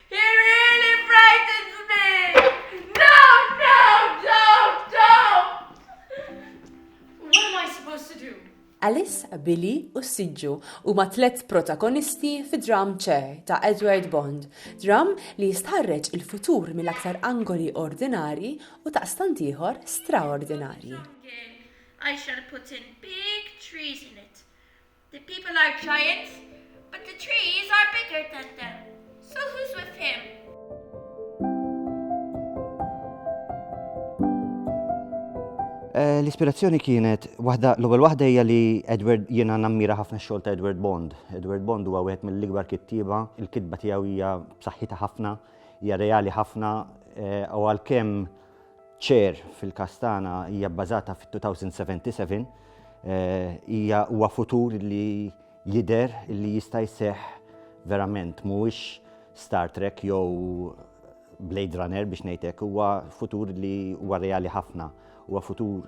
He really frightens me! Don't, don't, don't, don't! What am I supposed to do? Alice, Billy u s-siġġu huma tliet protagonisti fi dramm ċe ta' Edward Bond, dramm li jistħarreġ il-futur mill-aktar angoli ordinarji u daqstant ieħor straordinarji. I shall put in big trees in it. The people are giants, but the trees are bigger than them. So who's with him? Eh, l-ispirazzjoni kienet waħda l-ewwel waħda hija li Edward jiena nammira ħafna x-xogħol ta' Edward Bond. Edward Bond huwa wieħed mill-ikbar kittieba, il-kitba tiegħu hija b'saħħitha ħafna, hija reali ħafna eh, u għalkemm Ċer fil-każ tagħna hija bbażata fit-2077. Hija huwa futur li jidher li jista' jseħħ verament. Mhuwiex Star Trek jew Blade Runner biex ngħid hekk. Huwa futur li huwa reali ħafna. Huwa futur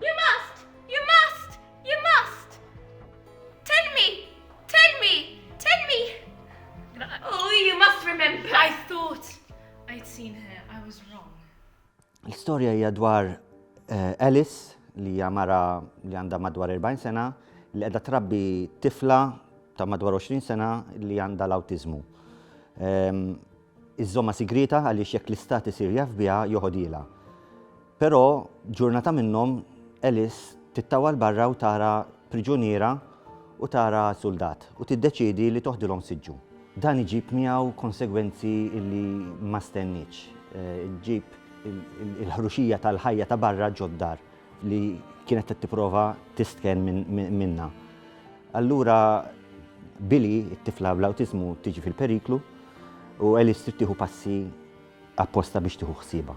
You must! You must! You must! Tell me! Tell me! Tell me! Oh, you must remember! I thought I'd seen her. I was wrong. L-istorja hija dwar eh, Alice li hija mara li għandha madwar 40 sena li qiegħda trabbi tifla ta' madwar 20 sena li għandha l-awtiżmu. Ehm, iżżommha sigrieta għaliex jekk l-Istat isir jaf biha joħodhielha. Però, ġurnata minnhom, Alice tittawa 'l barra u tara priġuniera u tara suldat u tiddeċiedi li toħdilhom siġġu. Dan iġib miegħu konsegwenzi li ma stennietx. Iġib il-ħruxija tal-ħajja ta' barra ġod-dar. li kienet qed tipprova tistken minnha. Allura Billy, it-tifla bl-awtiżmu tiġi fil-periklu u Alice trid tieħu passi apposta biex tieħu ħsiebha.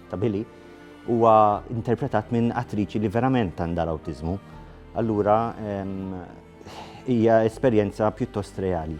ta' Billy huwa interpretat minn attriċi li verament għandha l-awtiżmu. Allura hija esperjenza pjuttost reali.